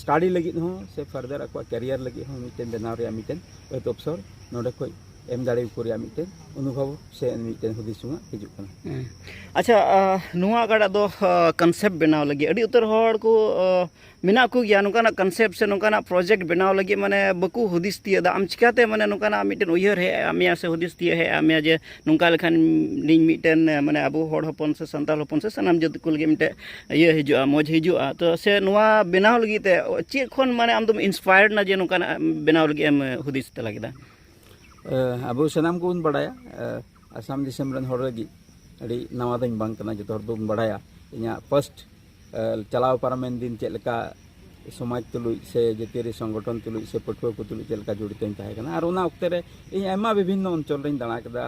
ᱥᱴᱟᱰᱤ ᱞᱟᱹᱜᱤᱫ ᱦᱚᱸ ᱥᱮ ᱯᱷᱟᱨᱫᱟᱨ ᱟᱠᱚᱣᱟᱜ ᱠᱮᱨᱤᱭᱟᱨ ᱞᱟᱹᱜᱤᱫ ᱦᱚᱸ ᱢᱤᱫᱴᱮᱱ ᱵᱮᱱᱟᱣ ᱨᱮᱭᱟᱜ ᱢᱤᱫᱴᱮᱱ ᱟᱹᱛ ᱚᱯᱥᱚᱨ ᱱᱚᱰᱮ ᱠᱷᱚᱱ ᱮᱢ ᱫᱟᱲᱮᱭᱟᱠᱚ ᱨᱮᱭᱟᱜ ᱢᱤᱫᱴᱮᱱ ᱚᱱᱩᱵᱷᱚᱵ ᱥᱮ ᱢᱤᱫᱴᱮᱱ ᱦᱩᱫᱤᱥ ᱦᱚᱸ ᱦᱤᱡᱩᱜ ᱠᱟᱱᱟ ᱟᱪᱪᱷᱟ ᱱᱚᱣᱟ ᱚᱠᱟᱴᱟᱜ ᱫᱚ ᱠᱚᱱᱥᱮᱯᱴ ᱵᱮᱱᱟᱣ ᱞᱟᱹᱜᱤᱫ ᱟᱹᱰᱤ ᱩᱛᱟᱹᱨ ᱦᱚᱲ ᱠᱚ ᱢᱮᱱᱟᱜ ᱠᱚ ᱜᱮᱭᱟ ᱱᱚᱝᱠᱟᱱᱟᱜ ᱠᱚᱱᱥᱮᱯᱴ ᱥᱮ ᱱᱚᱝᱠᱟᱱᱟᱜ ᱯᱨᱚᱡᱮᱠᱴ ᱵᱮᱱᱟᱣ ᱞᱟᱹᱜᱤᱫ ᱢᱟᱱᱮ ᱵᱟᱠᱚ ᱦᱩᱫᱤᱥ ᱛᱤᱭᱳᱜ ᱫᱟ ᱟᱢ ᱪᱤᱠᱟᱹᱛᱮ ᱢᱟᱱᱮ ᱱᱚᱝᱠᱟᱱᱟᱜ ᱢᱤᱫᱴᱮᱱ ᱩᱭᱦᱟᱹᱨ ᱦᱮᱡ ᱟᱫ ᱢᱮᱭᱟ ᱥᱮ ᱦᱩᱫᱤᱥ ᱛᱤᱭᱳᱜ ᱦᱮᱡ ᱟᱫ ᱢᱮᱭᱟ ᱡᱮ ᱱᱚᱝᱠᱟ ᱞᱮᱠᱷᱟᱱ ᱤᱧ ᱢᱤᱫᱴᱮᱱ ᱢᱟᱱᱮ ᱟᱵᱚ ᱦᱚᱲ ᱦᱚᱯᱚᱱ ᱥᱮ ᱥᱟᱱᱛᱟᱲ ᱦᱚᱯᱚᱱ ᱥᱮ ᱥᱟᱱᱟᱢ ᱡᱟᱹᱛ ᱠᱚ ᱞᱟᱹᱜᱤᱫ ᱢᱤᱫᱴᱮᱱ ᱤᱭᱟᱹ ᱦᱤᱡᱩᱜᱼᱟ ᱢᱚᱡᱽ ᱦᱤᱡᱩᱜᱼᱟ ᱛᱚ ᱥᱮ ᱱᱚᱣᱟ ᱵᱮᱱᱟᱣ ᱞᱟᱹᱜᱤᱫ ᱛᱮ ᱪᱮᱫ ᱠᱷᱚᱱ ᱢᱟᱱᱮ ᱟᱢ ᱫᱚᱢ ᱤᱱᱥᱯᱟᱭᱟᱨᱰ ᱱᱟ ᱡᱮ ᱱᱚᱝᱠᱟᱱᱟᱜ ᱵᱮᱱᱟᱣ ᱞᱟᱹᱜᱤᱫ ᱮᱢ ᱦᱩᱫᱤᱥ ᱛᱟᱞᱟ ᱠᱮᱫᱟ ᱟᱵᱚ ᱥᱟᱱᱟᱢ ᱠᱚᱵᱚᱱ ᱵᱟᱲᱟᱭᱟ ᱟᱥᱟᱢ ᱫᱤᱥᱚᱢ ᱨᱮᱱ ᱦᱚᱲ ᱞᱟᱹᱜᱤᱫ ᱟᱹᱰᱤ ᱱᱟᱣᱟ ᱫᱚᱧ ᱵᱟᱝ ᱠᱟᱱᱟ ᱡᱚᱛᱚ ᱦᱚᱲ ᱵᱚᱱ ᱵᱟᱲᱟᱭᱟ ᱤᱧᱟᱹᱜ ᱯᱷᱟᱥᱴ ᱪᱟᱞᱟᱣ ᱯᱟᱨᱚᱢᱮᱱ ᱫᱤᱱ ᱪᱮᱫ ᱞᱮᱠᱟ ᱥᱚᱢᱟᱡᱽ ᱛᱩᱞᱩᱡ ᱥᱮ ᱡᱟᱹᱛᱤᱭᱟᱹᱨᱤ ᱥᱚᱝᱜᱚᱴᱷᱚᱱ ᱛᱩᱞᱩᱡ ᱥᱮ ᱯᱟᱹᱴᱷᱩᱣᱟᱹ ᱠᱚ ᱛᱩᱞᱩᱡ ᱪᱮᱫ ᱞᱮᱠᱟ ᱡᱚᱲᱤᱛᱚᱧ ᱛᱟᱦᱮᱸ ᱠᱟᱱᱟ ᱟᱨ ᱚᱱᱟ ᱚᱠᱛᱮ ᱨᱮ ᱤᱧ ᱟᱭᱢᱟ ᱵᱤᱵᱷᱤᱱᱱᱚ ᱚᱧᱪᱚᱞ ᱨᱤᱧ ᱫᱟᱬᱟ ᱠᱮᱫᱟ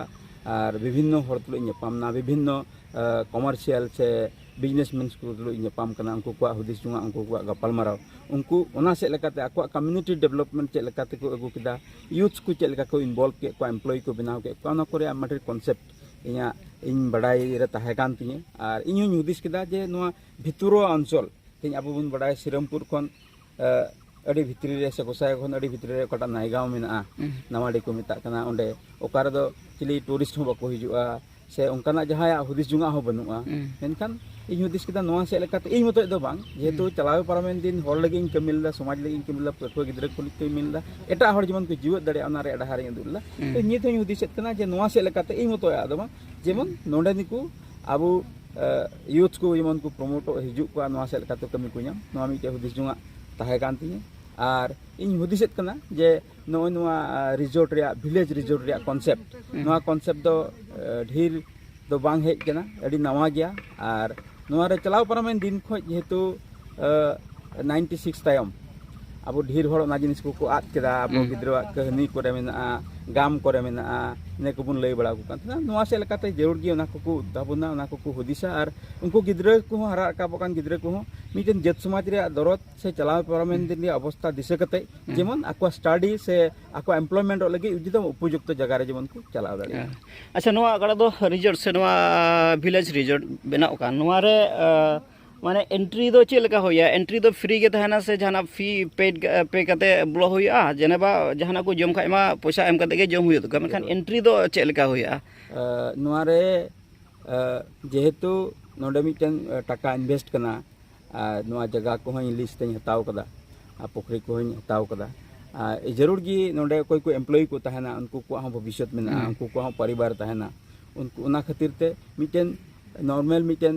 ᱟᱨ ᱵᱤᱵᱷᱤᱱᱱᱚ ᱦᱚᱲ ᱛᱩᱞᱩᱡ ᱤᱧ ᱧᱟᱯᱟᱢ ᱮᱱᱟ ᱵᱤᱵᱷᱤᱱᱱᱚ ᱠᱚᱢᱟᱨᱥᱤᱭᱟᱞ ᱥᱮ ᱵᱤᱡᱽᱱᱮᱥᱢᱮᱱ ᱠᱚ ᱛᱩᱞᱩᱡ ᱤᱧ ᱧᱟᱯᱟᱢ ᱠᱟᱱᱟ ᱩᱱᱠᱩ ᱠᱚᱣᱟᱜ ᱦᱩᱫᱤᱥ ᱡᱚᱝᱟᱜ ᱩᱱᱠᱩ ᱠᱚᱣᱟᱜ ᱜᱟᱯᱟᱞᱢᱟᱨᱟᱣ ᱩᱱᱠᱩ ᱚᱱᱟ ᱥᱮᱫ ᱞᱮᱠᱟᱛᱮ ᱟᱠᱚᱣᱟᱜ ᱠᱚᱢᱤᱭᱩᱱᱤᱴᱤ ᱰᱮᱵᱷᱞᱚᱯᱢᱮᱱᱴ ᱪᱮᱫ ᱞᱮᱠᱟ ᱛᱮᱠᱚ ᱟᱹᱜᱩ ᱠᱮᱫᱟ ᱤᱭᱩᱛᱷ ᱠᱚ ᱪᱮᱫ ᱞᱮᱠᱟ ᱠᱚ ᱤᱱᱵᱷᱚᱞᱵᱷ ᱠᱮᱫ ᱠᱚᱣᱟ ᱮᱢᱯᱞᱚᱭᱤ ᱠᱚ ᱵᱮᱱᱟᱣ ᱠᱮᱫ ᱠᱚᱣᱟ ᱚᱱᱟ ᱠᱚᱨᱮ ᱟᱭᱢᱟ ᱰᱷᱮᱨ ᱠᱚᱱᱥᱮᱯᱴ ᱤᱧᱟᱹᱜ ᱤᱧ ᱵᱟᱰᱟᱭ ᱨᱮ ᱛᱟᱦᱮᱸ ᱠᱟᱱ ᱛᱤᱧᱟᱹ ᱟᱨ ᱤᱧ ᱦᱚᱸᱧ ᱦᱩᱫᱤᱥ ᱠᱮᱫᱟ ᱡᱮ ᱱᱚᱣᱟ ᱵᱷᱤᱛᱩᱨᱚᱣᱟ ᱚᱧᱪᱚᱞ ᱛᱮᱦᱮᱧ ᱟᱵᱚ ᱵᱚᱱ ᱵᱟᱰᱟᱭ ᱥᱤᱨᱟᱢᱯᱩᱨ ᱠᱷᱚᱱ ᱟᱹᱰᱤ ᱵᱷᱤᱛᱨᱤ ᱨᱮ ᱥᱮ ᱜᱚᱥᱟᱭ ᱠᱷᱚᱱ ᱟᱹᱰᱤ ᱵᱷᱤᱛᱨᱤ ᱨᱮ ᱚᱠᱟᱴᱟᱜ ᱱᱟᱭᱜᱟᱸᱣ ᱢᱮᱱᱟᱜᱼᱟ ᱱᱟᱣᱟᱰᱤ ᱠᱚ ᱢᱮᱛᱟᱜ ᱠᱟᱱᱟ ᱚᱸᱰᱮ ᱚᱠᱟ ᱨᱮᱫᱚ ᱪᱤᱞᱤ ᱴᱩᱨᱤᱥᱴ ᱦᱚᱸ ᱵᱟᱠᱚ ᱦᱤᱡᱩᱜᱼᱟ ᱥᱮ ᱚᱱᱠᱟᱱᱟᱜ ᱡᱟᱦᱟᱸᱭᱟᱜ ᱦᱩᱫᱤᱥ ᱡᱚᱝᱟᱜ ᱦᱚᱸ ᱵᱟᱹᱱᱩᱜᱼᱟ ᱢᱮᱱᱠᱷᱟᱱ ᱤᱧ ᱦᱩᱫᱤᱥ ᱠᱮᱫᱟ ᱱᱚᱣᱟ ᱪᱮᱫ ᱞᱮᱠᱟᱛᱮ ᱤᱧ ᱢᱚᱛᱚᱡ ᱫᱚ ᱵᱟᱝ ᱡᱮᱦᱮᱛᱩ ᱪᱟᱞᱟᱣ ᱯᱟᱨᱚᱢᱮᱱ ᱫᱤᱱ ᱦᱚᱲ ᱞᱟᱹᱜᱤᱫ ᱤᱧ ᱠᱟᱹᱢᱤ ᱞᱮᱫᱟ ᱥᱚᱢᱟᱡᱽ ᱞᱟᱹᱜᱤᱫ ᱤᱧ ᱠᱟᱹᱢᱤ ᱞᱮᱫᱟ ᱯᱟᱹᱴᱷᱩᱣᱟᱹ ᱜᱤᱫᱽᱨᱟᱹ ᱠᱚ ᱞᱟᱹᱜᱤᱫ ᱠᱟᱹᱢᱤ ᱞᱮᱫᱟ ᱮᱴᱟᱜ ᱦᱚᱲ ᱡᱮᱢᱚᱱ ᱠᱚ ᱡᱤᱣᱮᱫ ᱫᱟᱲᱮᱭᱟᱜᱼᱟ ᱚᱱᱟ ᱨᱮᱭᱟᱜ ᱰᱟᱦᱟᱨᱤᱧ ᱩᱫᱩᱜ ᱞᱮᱫᱟ ᱛᱚ ᱱᱤᱛ ᱦᱚᱧ ᱦᱩᱫᱤᱥᱮᱫ ᱠᱟᱱᱟ ᱡᱮ ᱱᱚᱣᱟ ᱪᱮᱫ ᱞᱮᱠᱟᱛᱮ ᱤᱧ ᱢᱚᱛᱚᱭᱟᱜ ᱫᱚ ᱵᱟᱝ ᱡᱮᱢᱚᱱ ᱱᱚᱰᱮ ᱱᱤᱠᱩ ᱟᱵᱚ ᱭᱩᱛᱷ ᱠᱚ ᱡᱮᱢᱚᱱ ᱠᱚ ᱯᱨᱚᱢᱳᱴᱚᱜ ᱦᱤᱡᱩᱜ ᱠᱚᱣᱟ ᱱᱚᱣᱟ ᱪᱮᱫ ᱞᱮᱠᱟᱛᱮ ᱠᱟᱹᱢᱤ ᱠᱚ ᱧᱟᱢ ᱱᱚᱣᱟ ᱢᱤᱫᱴᱮᱡ ᱦᱩᱫᱤᱥ ᱡᱚᱝᱟᱜ ᱛᱟᱦᱮᱸ ᱠᱟᱱ ᱛᱤᱧᱟᱹ ᱟᱨ ᱤᱧ ᱦᱩᱫᱤᱥᱮᱫ ᱠᱟᱱᱟ ᱡᱮ ᱱᱚᱜᱼᱚᱭ ᱱᱚᱣᱟ ᱨᱤᱡᱚᱨᱴ ᱨᱮᱭᱟᱜ ᱵᱷᱤᱞᱮᱡᱽ ᱨᱤᱡᱚᱨᱴ ᱨᱮᱭᱟᱜ ᱠᱚᱱᱥᱮᱯᱴ ᱱᱚᱣᱟ ᱠᱚᱱᱥᱮᱯᱴ ᱫᱚ ᱰᱷᱮᱨ ᱫᱚ ᱵᱟᱝ ᱦᱮᱡ ᱠᱟᱱᱟ ᱟᱹᱰᱤ ᱱᱟᱣᱟ ᱜᱮᱭᱟ ᱟᱨ ᱱᱚᱣᱟ ᱨᱮ ᱪᱟᱞᱟᱣ ᱯᱟᱨᱚᱢᱮᱱ ᱫᱤᱱ ᱠᱷᱚᱱ ᱡᱮᱦᱮᱛᱩ ᱱᱟᱭᱤᱱᱴᱤ ᱥᱤᱠᱥ ᱛᱟᱭᱚᱢ ᱟᱵᱚ ᱰᱷᱮᱨ ᱦᱚᱲ ᱚᱱᱟ ᱡᱤᱱᱤᱥ ᱠᱚᱠᱚ ᱟᱫ ᱠᱮᱫᱟ ᱟᱵᱚ ᱜᱤᱫᱽᱨᱟᱹᱣᱟᱜ ᱠᱟᱹᱦᱱᱤ ᱠᱚᱨᱮ ᱢᱮᱱᱟᱜᱼᱟ ᱜᱟᱢ ᱠᱚᱨᱮ ᱢᱮᱱᱟᱜᱼᱟ ᱤᱱᱟᱹ ᱠᱚᱵᱚᱱ ᱞᱟᱹᱭ ᱵᱟᱲᱟ ᱟᱠᱚ ᱠᱟᱱ ᱛᱟᱦᱮᱱᱟ ᱱᱚᱣᱟ ᱥᱮᱫ ᱞᱮᱠᱟᱛᱮ ᱡᱟᱹᱨᱩᱲ ᱜᱮ ᱚᱱᱟ ᱠᱚᱠᱚ ᱩᱫᱽᱫᱷᱟᱵᱚᱱᱟ ᱚᱱᱟ ᱠᱚᱠᱚ ᱦᱩᱫᱤᱥᱟ ᱟᱨ ᱩᱱᱠᱩ ᱜᱤᱫᱽᱨᱟᱹ ᱠᱚᱦᱚᱸ ᱦᱟᱨᱟ ᱨᱟᱠᱟᱵᱚᱜ ᱠᱟᱱ ᱜᱤᱫᱽᱨᱟᱹ ᱠᱚᱦᱚᱸ ᱢᱤᱫᱴᱮᱱ ᱡᱟᱹᱛ ᱥᱚᱢᱟᱡᱽ ᱨᱮᱭᱟᱜ ᱫᱚᱨᱚᱫ ᱥᱮ ᱪᱟᱞᱟᱣ ᱯᱟᱨᱚᱢᱮᱱ ᱫᱤᱱ ᱨᱮᱭᱟᱜ ᱚᱵᱚᱥᱛᱟ ᱫᱤᱥᱟᱹ ᱠᱟᱛᱮ ᱡᱮᱢᱚᱱ ᱟᱠᱚᱣᱟᱜ ᱥᱴᱟᱰᱤ ᱥᱮ ᱟᱠᱚᱣᱟᱜ ᱮᱢᱯᱞᱚᱭᱢᱮᱱᱴᱚᱜ ᱞᱟᱹᱜᱤᱫ ᱡᱩᱫᱤ ᱩᱯᱚᱡᱩᱠᱛᱚ ᱡᱟᱭᱜᱟ ᱨᱮ ᱡᱮᱢᱚᱱ ᱠᱚ ᱪᱟᱞᱟᱣ ᱫᱟᱲᱮᱭᱟᱜᱼᱟ ᱟᱪᱪᱷᱟ ᱱᱚᱣᱟ ᱜᱟᱰᱟ ᱫᱚ ᱨᱤᱡᱚᱨᱴ ᱥᱮ ᱱᱚᱣᱟ ᱵᱷᱤᱞᱮᱡᱽ ᱨᱤᱡᱚᱨᱴ ᱵᱮᱱᱟᱣ ᱠᱟᱱ ᱱᱚᱣᱟ ᱨᱮ ᱢᱟᱱᱮ ᱮᱱᱴᱨᱤ ᱫᱚ ᱪᱮᱫ ᱞᱮᱠᱟ ᱦᱩᱭᱩᱜᱼᱟ ᱮᱱᱴᱨᱤ ᱫᱚ ᱯᱷᱨᱤ ᱜᱮ ᱛᱟᱦᱮᱱᱟ ᱥᱮ ᱡᱟᱦᱟᱱᱟᱜ ᱯᱷᱤ ᱯᱮ ᱯᱮ ᱠᱟᱛᱮ ᱵᱚᱞᱚ ᱦᱩᱭᱩᱜᱼᱟ ᱡᱮᱱᱮᱵᱟ ᱡᱟᱦᱟᱱᱟᱜ ᱠᱚ ᱡᱚᱢ ᱠᱷᱟᱡ ᱢᱟ ᱯᱚᱭᱥᱟ ᱮᱢ ᱠᱟᱛᱮ ᱜᱮ ᱡᱚᱢ ᱦᱩᱭᱩᱜ ᱛᱟᱠᱚᱣᱟ ᱢᱮᱱᱠᱷᱟᱱ ᱮᱱᱴᱨᱤ ᱫᱚ ᱪᱮᱫ ᱞᱮᱠᱟ ᱦᱩᱭᱩᱜᱼᱟ ᱱᱚᱣᱟ ᱨᱮ ᱡᱮᱦᱮᱛᱩ ᱱᱚᱰᱮ ᱢᱤᱫᱴᱮᱱ ᱴᱟᱠᱟ ᱤᱱᱵᱷᱮᱥᱴ ᱠᱟᱱᱟ ᱟᱨ ᱱᱚᱣᱟ ᱡᱟᱭᱜᱟ ᱠᱚᱦᱚᱸ ᱤᱧ ᱞᱤᱥᱴ ᱛᱮᱧ ᱦᱟᱛᱟᱣ ᱠᱟᱫᱟ ᱟᱨ ᱯᱩᱠᱷᱨᱤ ᱠᱚᱦᱚᱸᱧ ᱦᱟᱛᱟᱣ ᱠᱟᱫᱟ ᱟᱨ ᱡᱟᱹᱨᱩᱲ ᱜᱮ ᱱᱚᱰᱮ ᱚᱠᱚᱭ ᱠᱚ ᱮᱢᱯᱞᱚᱭᱤ ᱠᱚ ᱛᱟᱦᱮᱱᱟ ᱩᱱᱠᱩ ᱠᱚᱣᱟᱜ ᱦᱚᱸ ᱵᱷᱚᱵᱤᱥᱥᱚᱛ ᱢᱮᱱᱟᱜᱼᱟ ᱩᱱᱠᱩ ᱠᱚᱣᱟᱜ ᱦᱚᱸ ᱯᱚᱨᱤᱵᱟᱨ ᱛᱟᱦᱮᱱᱟ ᱩᱱᱠᱩ ᱚᱱᱟ ᱠᱷᱟᱹᱛᱤᱨ ᱛᱮ ᱢᱤᱫᱴᱮᱱ ᱱᱚᱨᱢᱟᱞ ᱢᱤᱫᱴᱮᱱ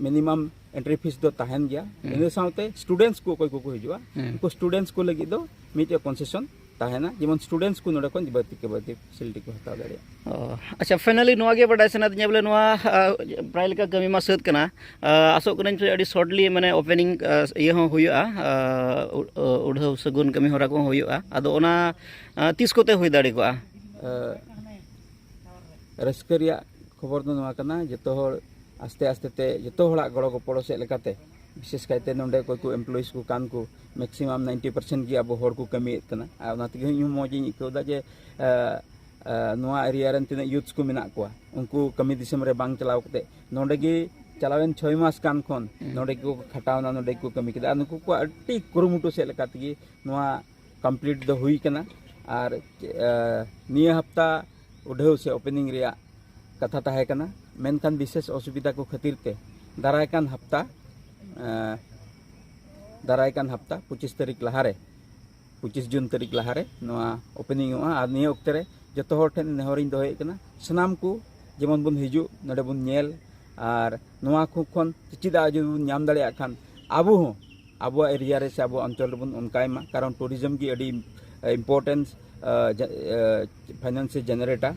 ᱢᱤᱱᱤᱢᱟᱢ ᱮᱱᱴᱨᱤ ᱯᱷᱤᱥ ᱫᱚ ᱛᱟᱦᱮᱱ ᱜᱮᱭᱟ ᱤᱱᱟᱹ ᱥᱟᱶᱛᱮ ᱥᱴᱩᱰᱮᱱᱴᱥ ᱠᱚ ᱚᱠᱚᱭ ᱠᱚᱠᱚ ᱦᱤᱡᱩᱜᱼᱟ ᱩᱱᱠᱩ ᱥᱴᱩᱰᱮᱱᱴᱥ ᱠᱚ ᱞᱟᱹᱜᱤᱫ ᱫᱚ ᱢᱤᱫᱴᱮᱱ ᱠᱚᱱᱥᱮᱥᱚᱱ ᱛᱟᱦᱮᱱᱟ ᱡᱮᱢᱚᱱ ᱥᱴᱩᱰᱮᱱᱴᱥ ᱠᱚ ᱱᱚᱰᱮ ᱠᱷᱚᱱ ᱵᱟᱹᱲᱛᱤ ᱠᱮ ᱵᱟᱹᱲᱛᱤ ᱯᱷᱮᱥᱤᱞᱤᱴᱤ ᱠᱚ ᱦᱟᱛᱟᱣ ᱫᱟᱲᱮᱭᱟᱜᱼᱟ ᱟᱪᱪᱷᱟ ᱯᱷᱟᱭᱱᱟᱞᱤ ᱱᱚᱣᱟ ᱜᱮ ᱵᱟᱰᱟᱭ ᱥᱟᱱᱟᱭᱮᱫᱤᱧᱟ ᱵᱚᱞᱮ ᱱᱚᱣᱟ ᱯᱨᱟᱭ ᱞᱮᱠᱟ ᱠᱟᱹᱢᱤ ᱢᱟ ᱥᱟᱹᱛ ᱠᱟᱱᱟ ᱟᱥᱚᱜ ᱠᱟᱹᱱᱟᱹᱧ ᱯᱮ ᱟᱹᱰᱤ ᱥᱚᱨᱴᱞᱤ ᱢᱟᱱᱮ ᱳᱯᱮᱱᱤᱝ ᱤᱭᱟᱹ ᱦᱚᱸ ᱦᱩᱭᱩᱜᱼᱟ ᱩᱰᱷᱟᱹᱣ ᱥᱟᱹᱜᱩᱱ ᱠᱟᱹᱢᱤ ᱦᱚᱨᱟ ᱠᱚᱦᱚᱸ ᱦᱩᱭᱩᱜᱼᱟ ᱟᱫᱚ ᱚᱱᱟ ᱛᱤᱥ ᱠᱚᱛᱮ ᱦᱩᱭ ᱫᱟᱲᱮ ᱠᱚᱜᱼᱟ ᱨᱟᱹᱥᱠᱟᱹ ᱨᱮᱭᱟᱜ ᱠᱷᱚᱵᱚᱨ ᱫᱚ ᱱᱚᱣᱟ ᱠᱟᱱᱟ ᱡᱚᱛᱚ ᱦᱚᱲ ᱟᱥᱛᱮ ᱟᱥᱛᱮ ᱛᱮ ᱡᱚᱛᱚ ᱦᱚᱲᱟᱜ ᱜᱚᱲᱚ ᱜᱚᱯᱚᱲᱚ ᱥᱮᱫ ᱞᱮᱠᱟᱛᱮ ᱵᱤᱥᱮᱥ ᱠᱟᱭᱛᱮ ᱱᱚᱰᱮ ᱚᱠᱚᱭ ᱠᱚ ᱮᱢᱯᱞᱚᱭᱤᱡᱽ ᱠᱚ ᱠᱟᱱ ᱠᱚ ᱢᱮᱠᱥᱤᱢᱟᱢ ᱱᱟᱭᱤᱱᱴᱤ ᱯᱟᱨᱥᱮᱱᱴ ᱜᱮ ᱟᱵᱚ ᱦᱚᱲ ᱠᱚ ᱠᱟᱹᱢᱤᱭᱮᱫ ᱠᱟᱱᱟ ᱟᱨ ᱚᱱᱟ ᱛᱮᱜᱮ ᱤᱧ ᱦᱚᱸ ᱢᱚᱡᱽ ᱤᱧ ᱟᱹᱭᱠᱟᱹᱣ ᱮᱫᱟ ᱡᱮ ᱱᱚᱣᱟ ᱮᱨᱤᱭᱟ ᱨᱮᱱ ᱛᱤᱱᱟᱹᱜ ᱭᱩᱛᱷ ᱠᱚ ᱢᱮᱱᱟᱜ ᱠᱚᱣᱟ ᱩᱱᱠᱩ ᱠᱟᱹᱢᱤ ᱫᱤᱥᱚᱢ ᱨᱮ ᱵᱟᱝ ᱪᱟᱞᱟᱣ ᱠᱟᱛᱮ ᱱᱚᱰᱮ ᱜᱮ ᱪᱟᱞᱟᱣᱮᱱ ᱪᱷᱚᱭ ᱢᱟᱥ ᱠᱟᱱ ᱠᱷᱚᱱ ᱱᱚᱰᱮ ᱜᱮᱠᱚ ᱠᱷᱟᱴᱟᱣᱱᱟ ᱱᱚᱰᱮ ᱜᱮᱠᱚ ᱠᱟᱹᱢᱤ ᱠᱮᱫᱟ ᱟᱨ ᱱᱩᱠᱩ ᱠᱚᱣᱟᱜ ᱟᱹᱰᱤ ᱠᱩᱨᱩᱢᱩᱴᱩ ᱥᱮᱫ ᱞᱮᱠᱟ ᱛᱮᱜᱮ ᱱᱚᱣᱟ ᱠᱚᱢᱯᱞᱤᱴ ᱫᱚ ᱦᱩᱭ ᱠᱟᱱᱟ ᱟᱨ ᱱᱤᱭᱟᱹ ᱦᱟᱯᱛᱟ ᱩᱰᱷᱟᱹᱣ ᱥᱮ ᱳᱯᱮᱱᱤᱝ ᱨᱮᱭᱟᱜ ᱠᱟᱛᱷᱟ ᱛᱟᱦᱮᱸ ᱠᱟᱱᱟ ᱢᱮᱱᱠᱷᱟᱱ ᱵᱤᱥᱮᱥ ᱚᱥᱩᱵᱤᱫᱟ ᱠᱚ ᱠᱷᱟᱹᱛᱤᱨ ᱛᱮ ᱫᱟᱨᱟᱭ ᱠᱟᱱ ᱦᱟᱯᱛᱟ ᱫᱟᱨᱟᱭ ᱠᱟᱱ ᱦᱟᱯᱛᱟ ᱯᱚᱸᱪᱤᱥ ᱛᱟᱹᱨᱤᱠᱷ ᱞᱟᱦᱟᱨᱮ ᱯᱚᱸᱪᱤᱥ ᱡᱩᱱ ᱛᱟᱹᱨᱤᱠᱷ ᱞᱟᱦᱟᱨᱮ ᱱᱚᱣᱟ ᱳᱯᱮᱱᱤᱝ ᱚᱜᱼᱟ ᱟᱨ ᱱᱤᱭᱟᱹ ᱚᱠᱛᱮ ᱨᱮ ᱡᱚᱛᱚ ᱦᱚᱲ ᱴᱷᱮᱱ ᱱᱮᱦᱚᱨᱤᱧ ᱫᱚᱦᱚᱭᱮᱫ ᱠᱟᱱᱟ ᱥᱟᱱᱟᱢ ᱠᱚ ᱡᱮᱢᱚᱱ ᱵᱚᱱ ᱦᱤᱡᱩᱜ ᱱᱚᱰᱮ ᱵᱚᱱ ᱧᱮᱞ ᱟᱨ ᱱᱚᱣᱟ ᱠᱚ ᱠᱷᱚᱱ ᱪᱮᱫᱟᱜ ᱡᱩᱫᱤ ᱵᱚᱱ ᱧᱟᱢ ᱫᱟᱲᱮᱭᱟᱜ ᱠᱷᱟᱱ ᱟᱵᱚ ᱦᱚᱸ ᱟᱵᱚᱣᱟᱜ ᱮᱨᱤᱭᱟ ᱨᱮ ᱥᱮ ᱟᱵᱚᱣᱟᱜ ᱚᱧᱪᱚᱞ ᱨᱮᱵᱚᱱ ᱚᱱᱠᱟᱭ ᱢᱟ ᱠᱟᱨᱚᱱ ᱴᱩᱨᱤᱡᱚᱢ ᱜᱮ ᱟᱹᱰᱤ ᱤᱢᱯᱚᱨᱴᱮᱱᱥ ᱯᱷᱟᱭᱱᱟᱱᱥᱤ ᱡᱮᱱᱟᱨᱮᱴᱟ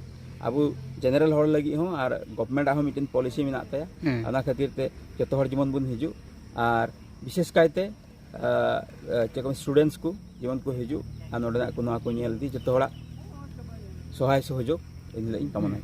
ᱟᱵᱚ ᱡᱮᱱᱟᱨᱮᱞ ᱦᱚᱲ ᱞᱟᱹᱜᱤᱫ ᱦᱚᱸ ᱟᱨ ᱜᱚᱵᱷᱢᱮᱱᱴ ᱟᱜ ᱦᱚᱸ ᱢᱤᱫᱴᱮᱱ ᱯᱚᱞᱤᱥᱤ ᱢᱮᱱᱟᱜ ᱛᱟᱭᱟ ᱚᱱᱟ ᱠᱷᱟᱹᱛᱤᱨ ᱛᱮ ᱡᱚᱛᱚ ᱦᱚᱲ ᱡᱮᱢᱚᱱ ᱵᱚᱱ ᱦᱤᱡᱩᱜ ᱟᱨ ᱵᱤᱥᱮᱥ ᱠᱟᱭᱛᱮ ᱪᱮᱫ ᱠᱚ ᱥᱴᱩᱰᱮᱱᱴᱥ ᱠᱚ ᱡᱮᱢᱚᱱ ᱠᱚ ᱦᱤᱡᱩᱜ ᱟᱨ ᱱᱚᱰᱮᱱᱟᱜ ᱠᱚ ᱱᱚᱣᱟ ᱠᱚ ᱧᱮᱞ ᱤᱫᱤ ᱡᱚᱛᱚ ᱦᱚᱲᱟᱜ ᱥᱚᱦᱟᱭ ᱥᱚᱦᱚᱡᱳᱜᱽ ᱤᱧ ᱞᱟᱹᱜᱤᱫ ᱤᱧ ᱠᱟᱢᱚᱱᱟᱭᱟ